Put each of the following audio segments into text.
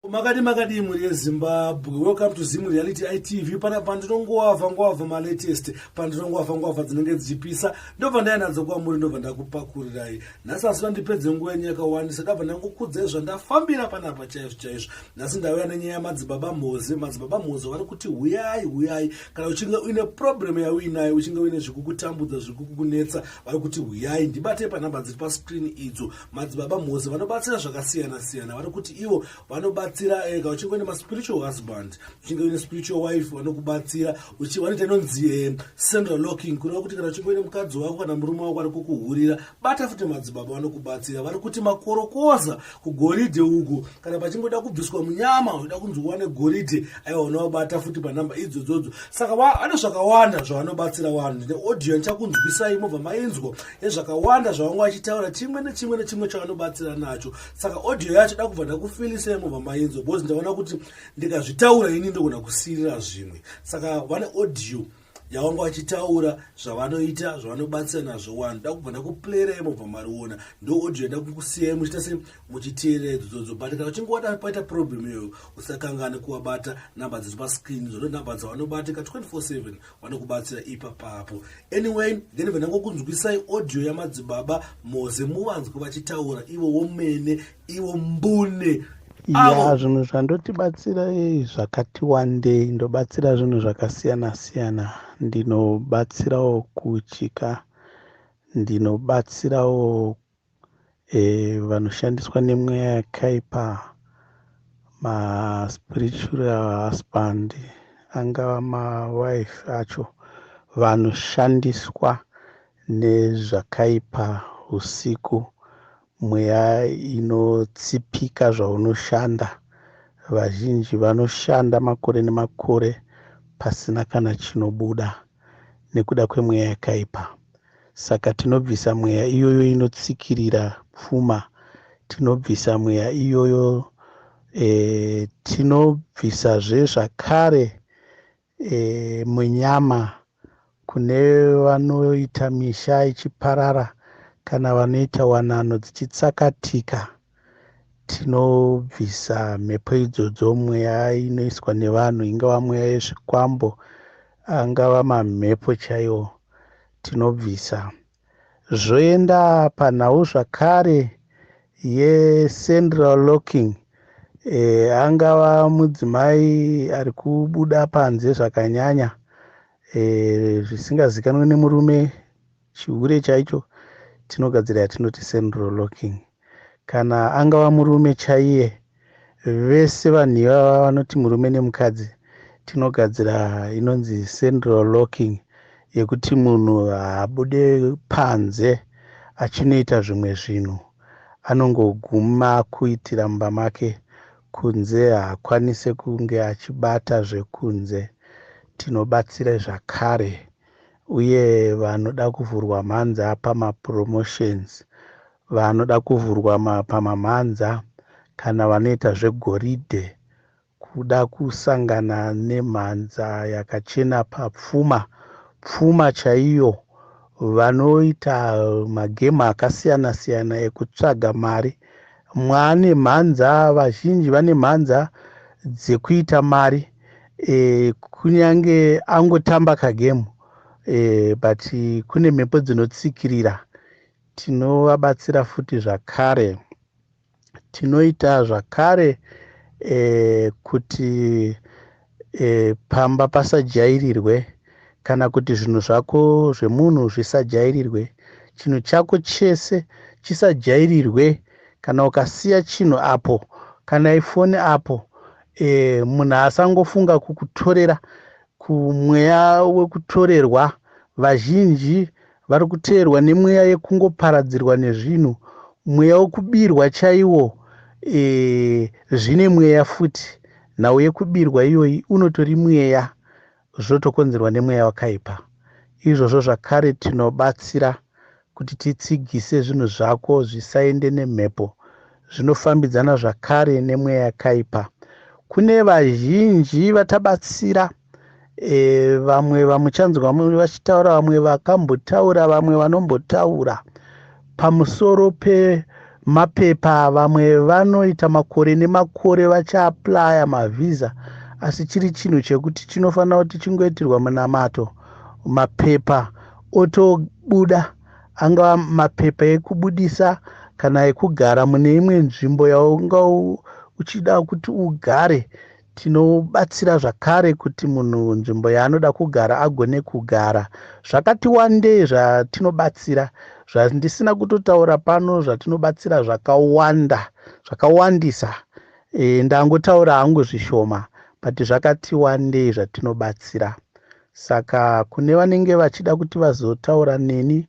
makadi makadii mhuri yezimbabwe welcome to zim reality itv pana pandinongoavha ngoavha malatest pandinongoavha ngoavha dzinenge dzichipisa ndobva ndainadzo kwamuri ndobva ndakupakurirai nhasi asi vandipedze nguva yenyu yakawandisa ndabva ndangokudzai zvandafambira panapa chaizvo chaizvo nhasi ndauya nenyaya yamadzibaba mhozi madzibaba mhozi vari kuti huyai huyai kana uchinge uine problem yauinayo uchinge uine zvekukutambudza zvekukukunetsa vari kuti huyai ndibatei panhamba dziri pascreen idzo madzibaba mose vanobatsira zvakasiyana siyana vari kuti ivo vanobatsira ega eh, uchingoenda maspiritual husband uchingoenda spiritual wife vanokubatsira vanoita inonzi eh, central locking kureva kuti kana uchingoenda mukadzi wako kana murume wako ari kukuhurira bata futi madzibaba vanokubatsira vari kuti makorokoza kugoridhe uku kana pachingoda kubviswa munyama unoda kunzi uwane goridhe aiwa unovabata futi panhamba idzodzodzo saka vane zvakawanda zvavanobatsira vanhu neaudio ndichakunzwisai mobva mainzwa ezvakawanda zvavanga vachitaura chimwe nechimwe nechimwe chavanobatsira nacho saka audio yacho da kubva ndakufilisai mubva mainzwa because ndaona kuti ndikazvitaura ini ndogona kusirira zvimwe saka vane audio yavanga vachitaura zvavanoita zvavanobatsira nazvo wani da kubva ndakuplayirai mubva mariona ndo audio yada kukusiyai muchiita se muchiteerera idzo dzodzo but kana uchinge wada paita problem iyoyo usakangane kuwabata number dziri pascreen zvondo number dzawanobata ka 24 7 vanokubatsira ipapapo anyway then vanangokunzwisai audio yamadzibaba moze muvanzwe vachitaura ivo womene ivo mbune ya zvinhu zvandotibatsira eh, zvakati wandei ndobatsira zvinhu zvakasiyana siyana ndinobatsirawo kuchika ndinobatsirawo E, vanoshandiswa nemweya yakaipa maspiritual husband angava mawife acho vanoshandiswa nezvakaipa usiku mweya inotsipika zvaunoshanda vazhinji vanoshanda makore nemakore pasina kana chinobuda nekuda kwemweya yakaipa. Saka tinobvisa mweya iyoyo inotsikirira pfuma, tinobvisa mweya iyoyo e, tinobvisazve zvakare e, munyama kune vanoita misha ichiparara kana vanoita wanano dzichitsakatika. tinobvisa mhepo idzodzo mweya inoiswa nevanhu ingava mweya yezvikwambo angava mamhepo chaiwo tinobvisa zvoenda panhau zvakare yecentral locking e, angava mudzimai ari kubuda panze zvakanyanya e, zvisingazikanwe nemurume Chihure chaicho chinogadzira yatinoti central locking. Kana angava murume chaiye, vese vanhu ivava vanoti murume nemukadzi tinogadzira inonzi central locking yekuti munhu haabude panze achinoita zvimwe zvinhu anongoguma kuitira mumba make kunze haakwanise kunge achibata zvekunze tinobatsira zvakare uye vanoda kuvhurwa mhanza pamapromotions vanoda kuvhurwa pamamhanza kana vanoita zvegoridhe kuda kusangana nemhanza yakachena papfuma pfuma chaiyo vanoita magemu akasiyana siyana ekutsvaga mari mwaane mhanza vazhinji vane mhanza dzekuita mari e, kunyange angotamba kagemu e, but kune mhepo dzinotsikirira tinovabatsira futi zvakare tinoita zvakare e, kuti e, pamba pasajairirwe kana kuti zvinhu zvako zvemunhu zvisajairirwe chinhu chako chese chisajairirwe kana ukasiya chinhu apo kana ifoni apo e, munhu asangofunga kukutorera kumweya wekutorerwa vazhinji vari kuteerwa nemweya yekungoparadzirwa nezvinhu mweya wekubirwa chaiwo e, zvine mweya futi nhau yekubirwa iyoyi unotori mweya zvotokonzerwa nemweya wakaipa. Izvozvo zvakare tinobatsira kuti titsigise zvinhu zvako zvisaende nemhepo zvinofambidzana zvakare nemweya yakaipa. Kune vazhinji vatabatsira e, vamwe vamuchanzwa vachitaura vamwe vakambotaura vamwe vanombotaura pamusoro pemapepa vamwe vanoita makore nemakore vachaaplaya mavhiza asi chiri chinhu chekuti chinofanira kuti chingoitirwa munamato mapepa otobuda angava mapepa ekubudisa kana ekugara mune imwe nzvimbo yaunga uchida kuti ugare Tinobatsira zvakare kuti munhu nzvimbo yaanoda kugara agone kugara. Zvakati wandei zvatinobatsira zvandisina kutotaura pano zvatinobatsira zvakawanda zvakawandisa e, ndangotaura hangu zvishoma but zvakati wandei zvatinobatsira saka kune vanenge vachida kuti vazotaura neni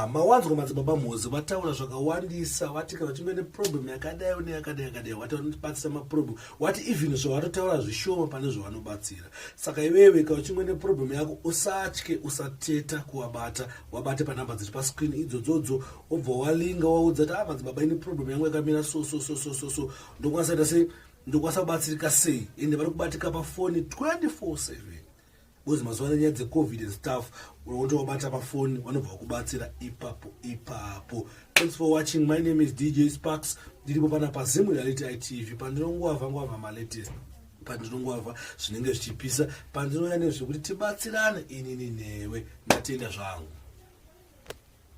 Ah, mawanzwa madzibaba mhozi vataura zvakawandisa vati kana uchinge neproblem yakadai une yakadai yakadai wati vanotibatsira maproblem wati even zvavatotaura zvishoma pane zvavanobatsira saka iwewe kana uchinge neproblem yako usatye usateta kuvabata wabate panhamba dziri pascreen idzodzodzo wobva walinga waudza ti a ah, madzibaba ini problem yangu yakamira so so so so so so ndokwanisa ita sei ndokwanisa kubatsirika sei ende vari kubatika pafoni 24 7 Bozi mazuva nenyaya dzecovid and stuff wotovabata pafoni vanobva vakubatsira ipapo ipapo thanks for watching my name is dj sparks ndiripo pana pazimu reality itv pandinongoava ngoava malatest pandinongoava zvinenge zvichipisa pandinouya nezvekuti tibatsirane inini newe ndatenda zvangu